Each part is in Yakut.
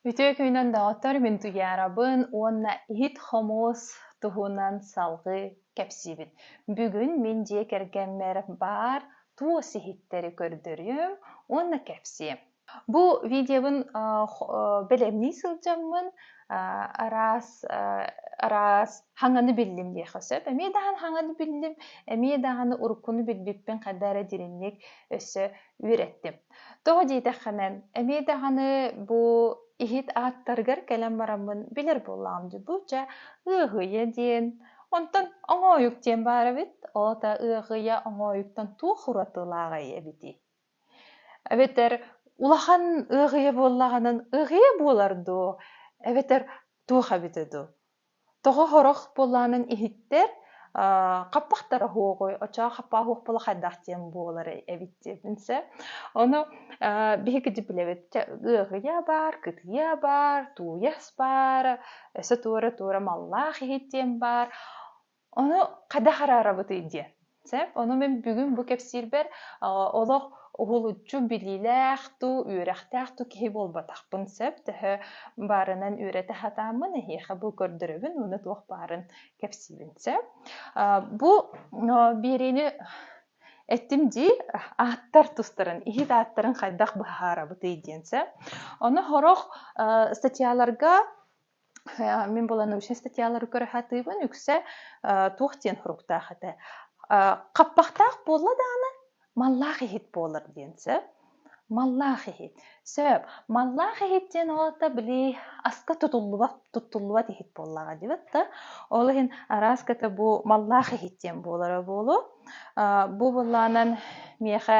Үтүө күнүнэн доҕоттор, мин Туйаарабын уонна иһит-хомуос туһунан салҕыы кэпсиибит. Бүгүн мин дьиэ кэргэммэр баар туос иһиттэри көрдөрүөм уонна кэпсиэм. Бу видеобын аа, хо- аа, бэлэмнии сылдьаммын аа, араас аа, араас хаҥаны биллим диэххэ сөп. Эмиэ даҕаны хаҥаны биллим, эмиэ даҕаны уруккуну билбиппин хайда эрэ дириҥник өссө үөрэттим. Тоҕо диэтэххинэ, эмиэ даҕаны бу иһит ааттарыгар кэлэн бараммын билэр буоллаҕым дьулууча ыаһыйа диэн, онтон оҥоойук диэн баар эбит, ол ата ыаһыйа оҥоойуктан туох уратылааҕый эбитий? Эбэтэр улахан ыаһыйа буоллаҕынан ыаһыйа буолар дуу, эбэтэр туох эбитэ дуу? Тоҕо сорох буолаанын иһиттэр хаппахтара уһуоҕуй, оччоҕо хаппааһуох буола хайдах диэн буолар эбит диэтин сөп. Ону биһикити билэбит, ыаһыйа баар, кытыйа баар, тууйас баар, өссө туора-туора маллаах иһит диэн баар. Ону хайдах араарабытый диэн. Сөп. Ону мин бүгүн бу кэпсиирбэр олох уһулуччу билиилээх туу, үөрэхтээх туу киһи буолбатахпын сөп. Төһө баарынан үөрэтэ сатааммын эһиэхэ бу көрдөрөбүн уонна туох баарын кэпсиибин сөп. Бу биэриини эттим дии, ааттар тустарын, иһит ааттарын хайдах быһаарабытый диэн сөп. Ону сорох статьяларга Мин буолан научная статьялары көрө сатыыбын үксэ туох диэн суруктаах этэ хаппахтаах буолла даҕаны маллаах иһит буолар диэн сөп маллаах иһит сөп маллаах иһит диэн уолата били аска тутуллубат туттуллубат иһит буоллаҕа диэбит да ол иһин арааската бу маллаах иһит диэн буолара буолуо бу былаанан миэхэ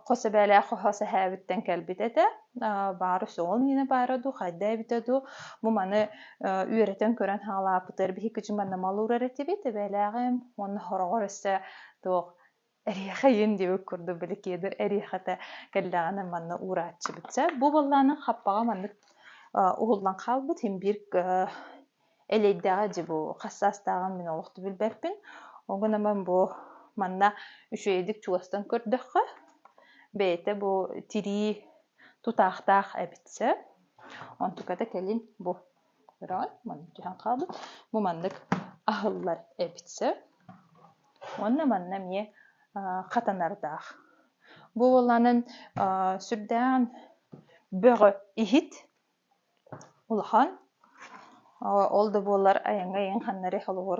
хос эбээлээх хос эһээбиттэн кэлбит этэ баара суоҕун инэ баара дуу хайда эбитэ дуу бу маны үөрэтэн көрөн хаалаапытыгар биһикки дьыман намалуурар этибит эбээлээҕим уонна хороҕор өссө туох эриэхэйин диэбит курдук били киэдэр эриэхэтэ кэллэҕинэ манна уурааччыбытча бу буоллаанын хаппаҕа маннык уһуллан хаалбыт һин биир элэйдэҕэ дьи бу хас саастааҕым мин олохту билбэппин ол гынан бу манна үчүгэйдик чугастан көрдөххө бэйэтэ бу тирии тутаахтаах эбит сөп онтуката кэлин бу көрөҕүн маннык түһэн хаалбыт бу маннык аһыллар эбит сөп уонна манна эмиэ хатанардаах бу буолаанын сүрдээн бөҕө иһит улахан ол да буоллар айаҥҥа ийэҥ ханнарый холобур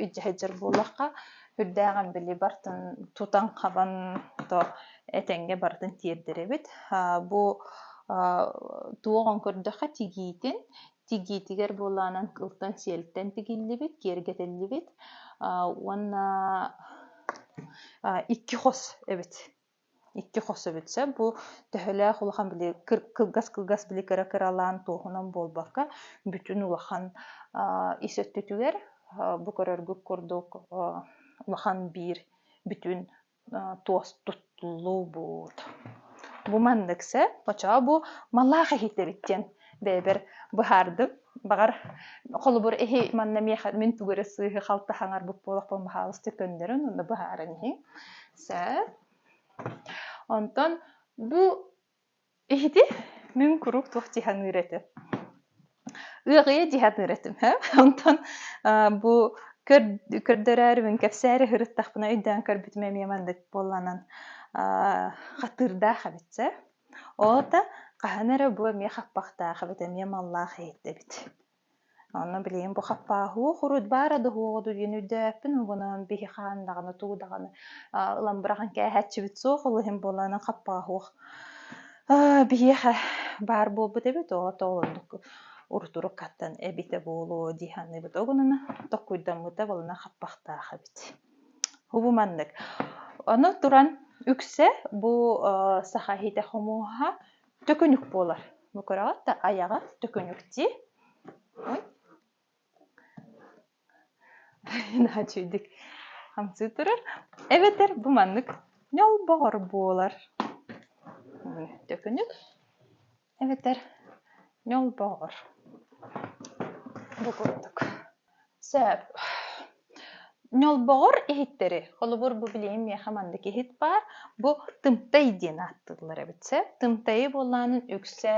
илдьэ сылдьар буоллахха үрдээҕин били бартын тутан хабан то этэҥҥэ барытын тиэрдэрэбит бу туоҕун көрдөххө тигиитин тигиитигэр буолаанан кылтан сиэлтэн тигиллибит киэргэтиллибит уонна икки хос эбит икки хос эбитсэ бу төһөлөөх улахан били кылгас-кылгас били кыра-кыралаан туоһунан буолбакка бүтүн улахан ис өттүтүгэр бу көрөргүт курдук улахан биир бүтүн туос туттуллубут бу маннык сэ оччоҕо бу малаах иһит эбит диэн бэйэбэр быһаардым Бағар холобур эһи манна миэхэ мин тугура сыыһы халта хаҥарбыт буолахпын баһаалыстык көннөрүн онно быһааран иһиҥ. Сэ. Онтон бу иһити мин куруук туох диханыыр этим. Ыаҕыйа диханыыр этим. Онтон бу көрдөрөөрүбүн кэпсээри хырыттахпына өйдөөн көрбүтүм эмиэ мандык буолланан хатыырдаах эбит Оҕото хаһан эрэ бу эмиэ хаппахтаах эбит, эмиэ маллаах иһиттэбит. Онно билигин бу хаппааһуох урут баара да суоҕа дуу диэн өйдөөбүппүн, угунан биһи хаан даҕаны, туу даҕаны аа ылан быраҕан кээһээччибит суох, ол иһин буолан хаппааһуох аа биһиэхэ баар буолбут эбит, оҕото олордук урут-уруккаттан эбитэ буолуо дии саныыбыт. Ол гынан токкуйдаммыта буолана хаппахтаах эбит. Угу маннык. Ону туран үксэ бу э, саха иһитэ хомуһа төкүнүк буолар. Бу көрөҕүт да айаҕа төкүнүктии. Daha чүйдік хамсыы тұрар. Эбэтэр бу маннык ньолбоҕор буолар. Төкүнүк эбэтэр ньолбоор бу курдук сөп ньолбоҕор иһиттэри холобур бу билиҥҥи миэхэ маннык иһит баар бу тымтай диэн ааттыыллар эбит сөп тымтайы буоллаанын үксэ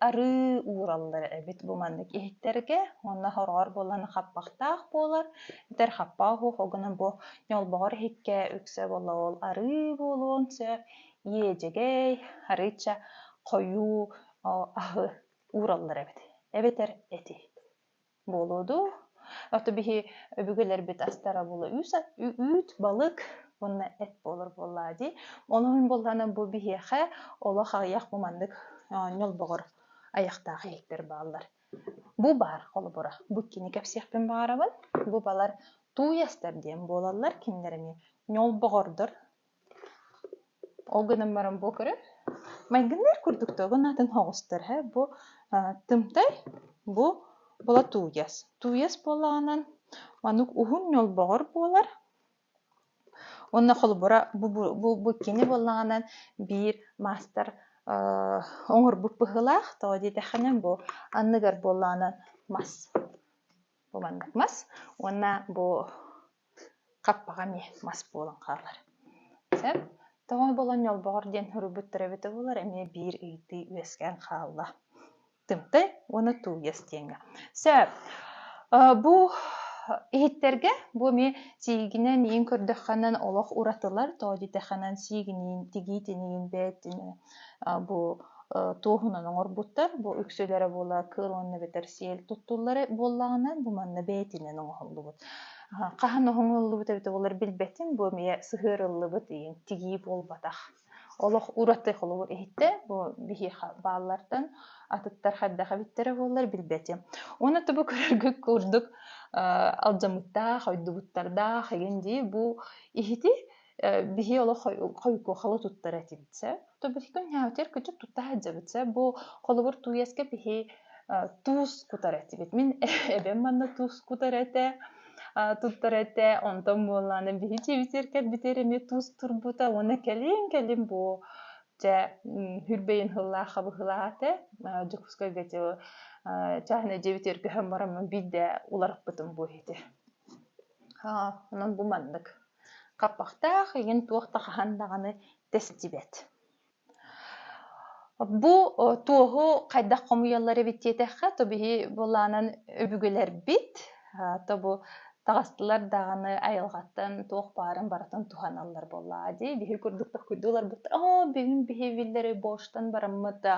арыы уураллар эбит бу маннык иһиттэргэ уонна хороҕор буоллаан хаппахтаах буолар эбэтэр хаппаах оһуохугунан бу ньолбоҕор иһиккэ үксэ буолла ол арыы буолуон сөп иэдьэгэй, арыычча хойуу аһы уураллар эбит, эбэтэр эти буолуо дуу. Ото биһи өбүгэлэрбит астарабыла үүт, балык уонна эт буолар буоллаа дии. Онон буоллана бу биһиэхэ олох аҕыйах бу маннык ньолбоҕор айахтаах иһиктэр бааллар. Бу баар холобура. Бу кини кэпсиэхпин баҕарабын. Бу балар тууястар диэн буолаллар. Кинилэр эмиэ ньолбоҕордор Ол гынан баран бу көрөр майгынныыр курдук да оҕо аатын оҕустар ээ бу Тымтай бу Болотуйас Туйас буоллаҕынан маннык уһун ньолбоҕор буолар уонна холобура бу бу бу кини буоллаҕынан биир маастар оҥорбут быһыылаах тоҕо диэтэххинэ бу анныгар буоллаҕынан мас бу маннык мас уонна бу хаппаҕам ээ мас буолан хаалар сөп тоҕо буолан ньолбоҕор диэн суруйбуттара эбитэ буоллар эмиэ биир ыйытыы үөскээн хаалла тымтай уонна тулуйас диэҥҥэ сөп бу иһиттэргэ бу эмиэ сиигинэн иин көрдөххө олох уратылар тоодьуйдаххынан сиигиниин тигиитиниин бээтинэ бу туоһунан оҥорбуттар бу үксүлэрэ буола кыыл уонна эбэтэр сиэл туттуллара буоллаҕына бу манна бээтинэн оҥоһуллубут хаһан оҥоһуллубут эбитэ болар билбэтин бу эмиэ сыһыарыллыбыт иин тигии буолбатах олох ураты холобур иһиттэ бу биһиэхэ бааллартан атыттар хайдах эбиттэрэ буоллар билбэтим уонна тобу көрөргүт курдук алдьаммыттаах ойдубуттардаах эгин дии бу иһити биһи олох хойукуохалы туттар этим сэ то биһиги ньаатир кычыт тутта садьабыт сэ бу холобур туеска биһи туус кутар этибит мин эбэм манна туус кутар этэ туттар этэ онтон буоллааны биһи дьиэбитигэр битэр эмиэ туус турбута уонна кэлин кэлин бу дьэ хүрбэйин хыллаа хабыһылаата дьокуускайга чаһына дьиэбитигэр көһөн бараммын биирдэ уларыппытым бу ити онон бу маннык Хаппахтаах игин туох да хаһан даҕаны тэстибэт Бу туоһу хайдах хомуйаллар эбит диэтэххэ, то биһи былаанан өбүгэлэрбит, то бу таҕыстылар даҕаны айылҕаттан туох баарын барытын туһаналлар буоллаҕа дии. Биһи курдук да охкуйдуларбыт, оо, бүгүн биһи биллэр боштан бараммыт да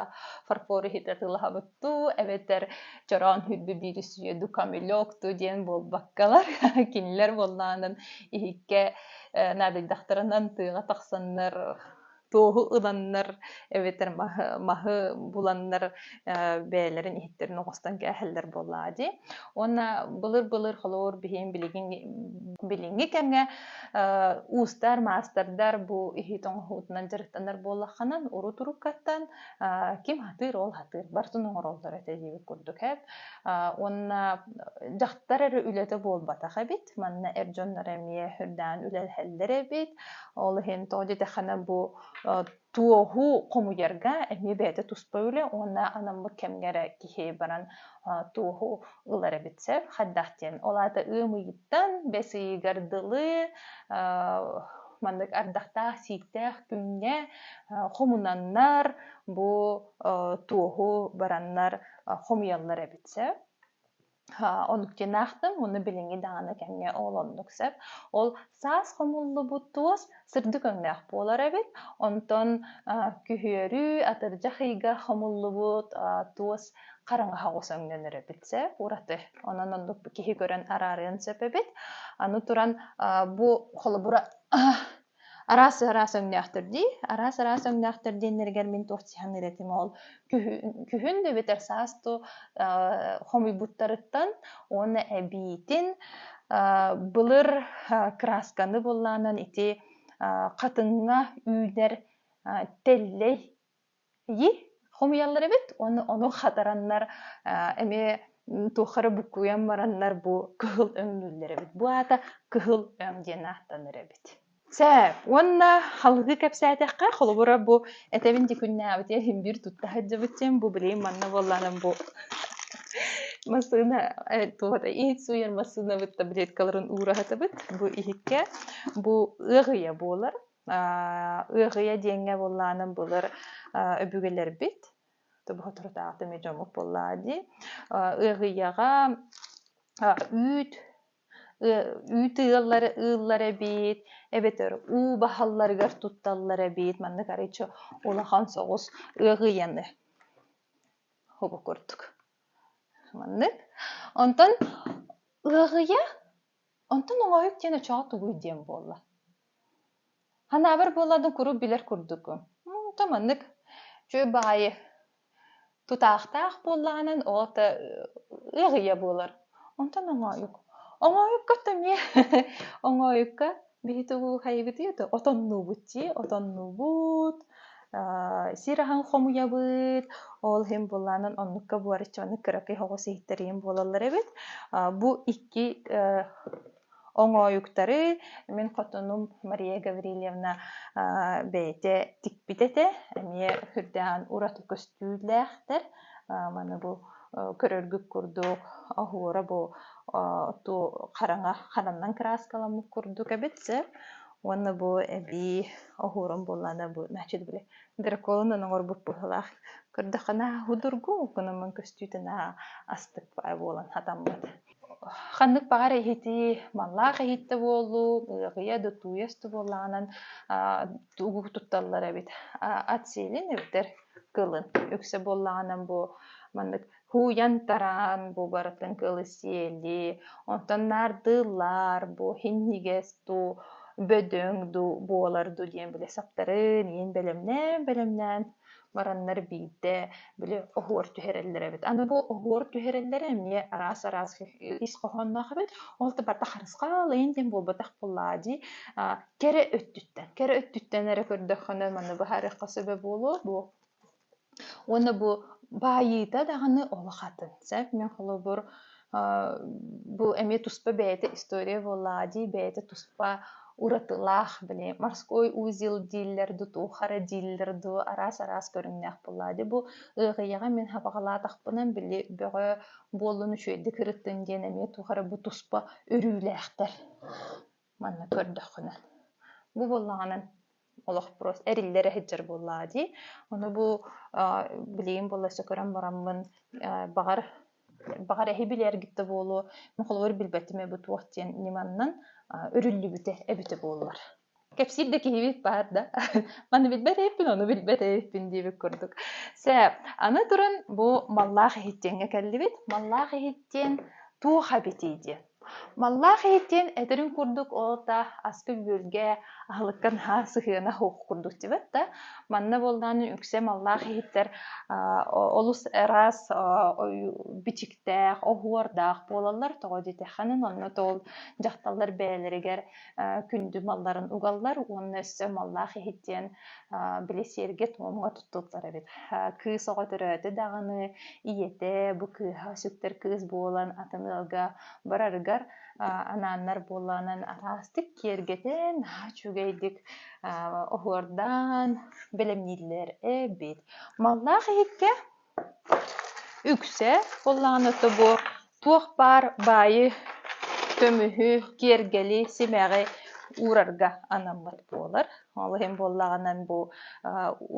фарфор иһит атыылаһабыт туу эбэтэр чороон хүрдү биир үсүйөду камелек ту диэн буолбаккалар кинилэр буоллаанын иһикке наадыйдахтарынан тыаҕа тахсаннар туоһу ыланнар эбэтэр маһы, маһы буланнар бэйэлэрин иһиттерин оҕостон кээһэллэр буоллаа дии. Уонна былыр-былыр холоор биһин билигин билиҥҥи кэмҥэ уустар, маастардар бу иһит оҥоһуутунан дьарыктанар буоллахханан урут-уруккаттан ким сатыыр ол сатыыр бартын оҥороллор этэ диибит курдук эт уонна дьахтар эрэ үлэтэ буолбатах эбит манна эр дьоннор эмиэ үрдээн үлэлэһэллэр эбит ол иһин тоҕо диэтэххинэ бу туоһу хомуйарга эмиэ бэйэтэ туспа үлэ уонна анаммыт кэмҥэ эрэ киһи баран туоһу ылар эбит сөп хайдах диэн ол аата ыам ыйыттан бэс ыйыгар дылы Маннык ардахтаах, сииктээх күҥҥэ хомунаннар бу туоһу бараннар хомуйаллар эбит сөп. Онуктен ахтын, уну билиҥи дааны кэмҥэ оолоннук сөп. Ол саас хомуллубут туос сырдык өҥнөөх буолар эбит. Онтон күһүөрү атырдьах ыйга хомуллубут туос хараҥаһа оҕус өҥнөнөр эбит сэ ураты онон оннук киһи көрөн араарыан сөп эбит аны туран бу холобура араас араас өҥнөөхтөр дии араас араас өҥнөөхтөр диэннэригэр мин туох сиһан этим ол күһүн эбэтэр саасту хомуйбуттарыттан уонна эбиитин былыр красканы буллаанан ити хатыҥҥа үүнэр тэллэй Ии, хомуйаллар эбит уонна ону хатараннар, э, эмиэ туохха эрэ буккуйан бараннар бу кыһыл өҥнүүллэр эбит. Бу аата кыһыл өҥ диэн ааттанар эбит. Сээп, уонна халыгы кэпсээтэххэ, холобура бу этэбин ти күннээбитиэ иһин биир тутта сылдьыбыччым, бу билигин манна буоллаанан бу массыына э, туохата иит сууйар массыынабыт таблеткаларын уураһатыбыт. Бу иһиккэ бу ыаҕыйа буолар. Ыаҕыйа диэҥҥэ буоллаанын былыр өбүгэлэрбит, тобоҕоторутаахта эмиэ дьоммут буоллаа дии, ыаҕыйаҕа үүт үүт ыаллара ыыллар эбит, эбэтэр уу баһалларыгар тутталлар эбит, маннык арыычча улахан соҕус ыаҕыйаны хобу курдук. Маннык. Онтон ыаҕыйа Онтон оҥоһук диэн очоҕо тугуй диэн буолла Санаабар буолладым куруук билэр курдукум да маннык Чүөл баҕайы тутаахтаах буоллаҕынан ол да ыаҕыйа буолар Онтон оҥоһук оҥоһукка эмиэ оҥоһукка Биһиги хайыгытый это отоннуубут дии отоннуубут сир аһын хомуйабыт ол иһин былаанын оннукка буораччы маннык кыракый оҕус иһиттэриим буолаллар эбит бу икки оҥоойуктары мин хотунум Мария Гаврильевна бэйэтэ тикпит этэ эмиэ үрдээҕин ураты көстүүлээхтэр маны бу көрөргүт курдук оһуора бу ту хараҥа хананнан кырааскаламмыт курдук эбит сэ уонна бу эбии оһуорум буоллаана бу значит били драконунан оҥорбут быһылаах көрдөххүнэ худургу гынамын көстүүтүнэ астык буолан хатаммыт ханнык баҕар иһитии маллаах иһиттэ буоллуу ыаҕыйа да тууйас да буоллаҕынан тугу тутталлар эбит ат сиэлин эбитэр кылын үксэ буоллаҕына бу маннык һууйан-тараан бу барытын кылы сиэли онтон наардыыллар бу һинньигэс дуу бөдөҥ дуу буолар дуу диэн бile саптарын иин бэлэмнээн бэлэмнээн бараннар биирдэ били оһуор түһэрэллэр эбит аны бу оһуор түһэрэллэрэ эмиэ араас араас ис хоһоонноох эбит ол да барда харысхал иин диэн буолбатах буоллаа дии кэрэ өттүттэн кэрэ өттүттэн эрэ көрдөххүнэ маны быһаарыахха сөбө буолуо бу уонна бу баайыыта даҕаны улахатын сөп мен холобур бу эмиэ туспа бэйэтэ история буоллаҕа дии бэйэтэ туспа уратылаах били морской узел дииллэр дуу туохара дииллэр дуу араас араас көрүҥнээх буоллаҕа дии бу ыарыйаҕа мин хабаҕалаатахпынан били бөҕө буоллун үчүгэйдик ырыттын диэн эмиэ туохара бу туспа өрүүлээхтэр Манна көрдөххүнэ бу буоллаҕынан олохпуос эриллэрэ сылдьар буоллаҕа дии. Ону бу билигин буола өссө көрөн бараммын баҕар баҕар эһи билэ эргиттэ буолуо, мин холобур билбэтим эбит туох диэн ньыманнан үрүллүбүтэ эбитэ буоллар. Кэпсиир да киһибит баар да, маны билбэт эһиппин, ону билбэт эһиппин диэбит курдук. Сэ, аны туран бу маллаах иһиттиэҥҥэ кэллибит. Маллаах иһиттиэн туох эбитий диэн. Маллаах иһит диэн этэрин курдук ол-та аска-үөлгэ аһылыкка наһаа сыһыана суох курдук диэбэт да манна буоллаҕына үксэ маллаах иһиттэр олус араас бичиктээх оһуордаах буолаллар тоҕо диэтэххинэ онно тоҕо дьахталлар бэйэлэригэр күндү малларын угаллар уонна өссө маллаах иһит диэн били сиэргэ туомҥа туттуллар эбит. Кыыс оҕо төрөөтө даҕаны, ийэтэ бу кыыһа сүктэр кыыс буолан атын ыалга барарыгар анааннар буоланан араастык киэргэтэн үчүгэйдик оһуордаан бэлэмнииллэр эбит. Маллаах иһиккэ Үксэ буоллаҕына тобук, туох баар баайы, көмүһү, киэргэли, симэҕи уурарга анаммыт буолар. Ол иһин буоллаҕына бу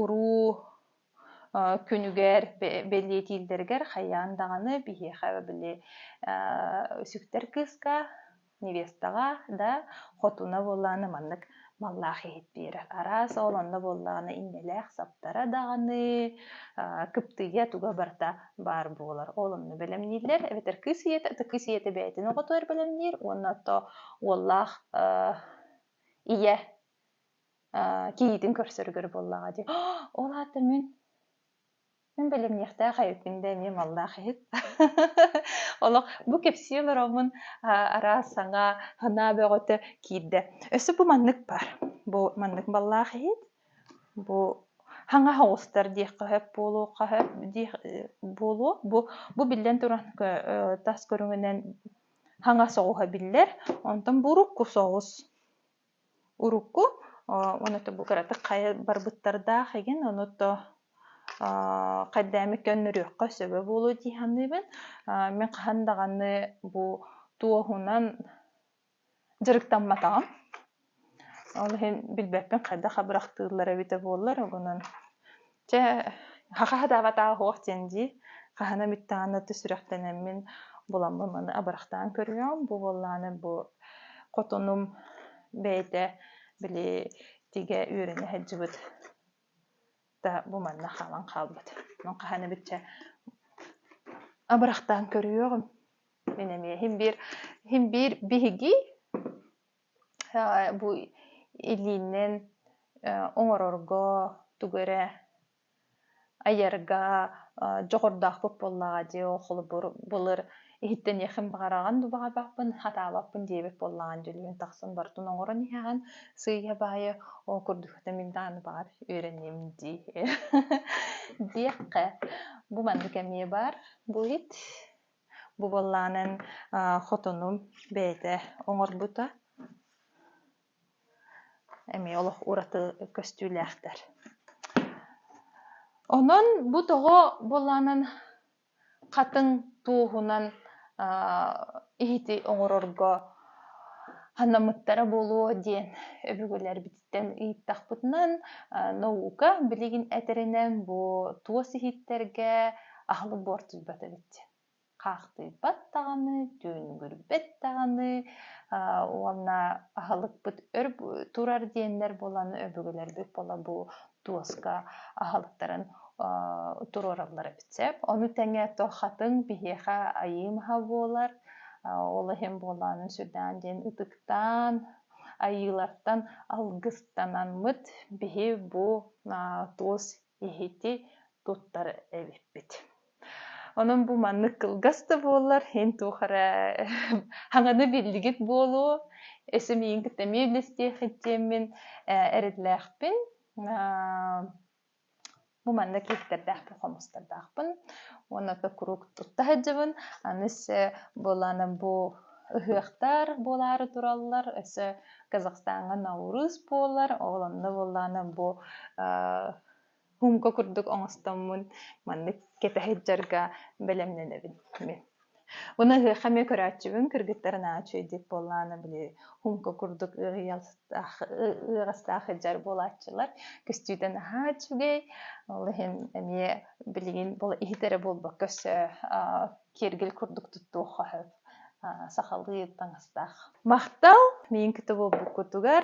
уруу күнүгэр бэлиэтииллэригэр хайаан даҕаны биһиэхэ били сүктэр кыыска невестаҕа да хотуна буоллаҕына маннык маллаах иһит биэрэр араас ол онно буоллаҕына иннэлээх саптара даҕаны кыптыйа туга барыта баар буолар ол онно бэлэмнииллэр эбэтэр кыыс ийэтэ ытык кыыс ийэтэ бэйэтин оҕотугар бэлэмниир уонна то уоллаах ийэ кийиитин көрсөрүгэр буоллаҕа дии ол аата мин Мин билимниэхтээх эбиппин да эмиэ маллаах иһит. Олох бу кэпсии олороммун араас саҥа санаа бөҕөтө киирдэ. Өссө бу маннык бар. Бу маннык маллаах иһит. Бу хаҥас оҕустар диэххэ сөп буолуохха сөп диэх буолуо. Бу бу биллэн туран тас көрүҥүнэн хаҥас оҕуһа биллэр. Онтон бу урукку соҕус. урукку онуота бу кыратык хайа барбыттардаах игин онуто хайдаамы көннөрүөххэ сөбө буолуо дии саныыбын мин хаһан даҕаны бу туоһунан дьарыктамматаҕым ол иһин билбэппин хайдах абырахтыыллар эбитэ буоллар угунан Чэ, хаһаатаабатааһуох диэн дии, хаһана бүттэҕинэ өттө сүрэхтэнэммин буламмын маны абырахтаан көрүөм. Бу буоллаҕына бу хотонум бэйэтэ били тигэ үөрэнэ сылдьыбыт да бу манна хаалан хаалбыт. Мин хаһана бүтчэ абырахтаан көрүөҕүм. Мин эмиэ син биир син биир биһиги бу илииннэн оҥорорго тугу эрэ айарга дьоҕурдаахпыт буоллаҕа дии холобур былыр иһиттэниэххин баҕараҕын да баҕарбаппын хатаабаппын диэбит буоллаҕа дьүүллүүн тахсан барытын оҥорон иһэҕин сыыйа баайы ол курдук этэ мин даҕаны баҕар үөрэниэм дии диэххэ бу маннык эмиэ баар бу иһит Бу буоллаҕынан хотону бэйэтэ оҥорбута. Эмиэ олох ураты көстүүлээхтэр. Онон бу тоҕо буоллаҕынан хатыҥ туоһунан иһити оҥорорго ханаммыттара буолуо диэн өбүгэлэрбит Ыйыттахпытынан наука билигин этэринэн бу туос иһиттэргэ аһылык буортуйбат эбит. Хаахтыйбат даҕаны, түүнүгүрбэт даҕаны уонна аһылыкпыт өр турар диэннэр буолан өбүгэлэрбит буола бу туоска аһылыктарын туруораллар эбит сөп. Ону тэҥэ то хатыҥ биһиэхэ айыы маһа буолар. Ол иһин буолаан сүрдээн диэн ытыктаан Айыылартан алгыстанаммыт биһи бу туос иһити туттар эбиппит. Онон бу маннык кылгас да буоллар, эн туох эрэ хаҥаны биллигит буолуо, эсэмийиҥ кытта эмиэ үллэстиэх иччиэммин эрэллээхпин. Бу манна киһитэрдээх хомустардаахпын уонна то куруук тутта сылдьабын. Аны өссө буолаана бу ыһыахтар буолаары тураллар. Өссө Казахстаҥҥа Наурыз буолар. Ол онно буоллаана бу аа хумка курдук оҥостоммун маннык кэтэһэ сылдьарга бэлэмнэнэбин мин. Уна ыһыахха эмиэ көрөөччүбүн кыргыттар наһаа үчүгэйдик буоллаҕына били хумка курдук ыарыйахтаах ыарастаах сылдьар буолааччылар көстүүтэ наһаа үчүгэй ол иһин эмиэ билигин иһит эрэ буолбакка өссө киэргэл курдук туттуохха сөп сахалыы таҥастаах махтал миигин кытта буолбуккутугар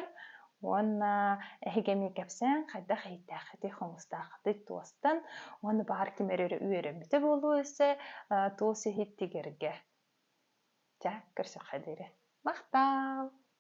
Уонна эһиги эмиэ кэпсээн, хайдах эһийтээххитий, хомустааххытый туостан, уонна баар ким эрэ үөрэммитэ буолуо өссө туос иһит тигэргэ. Ча, көрсөххө диэри. Махтаал!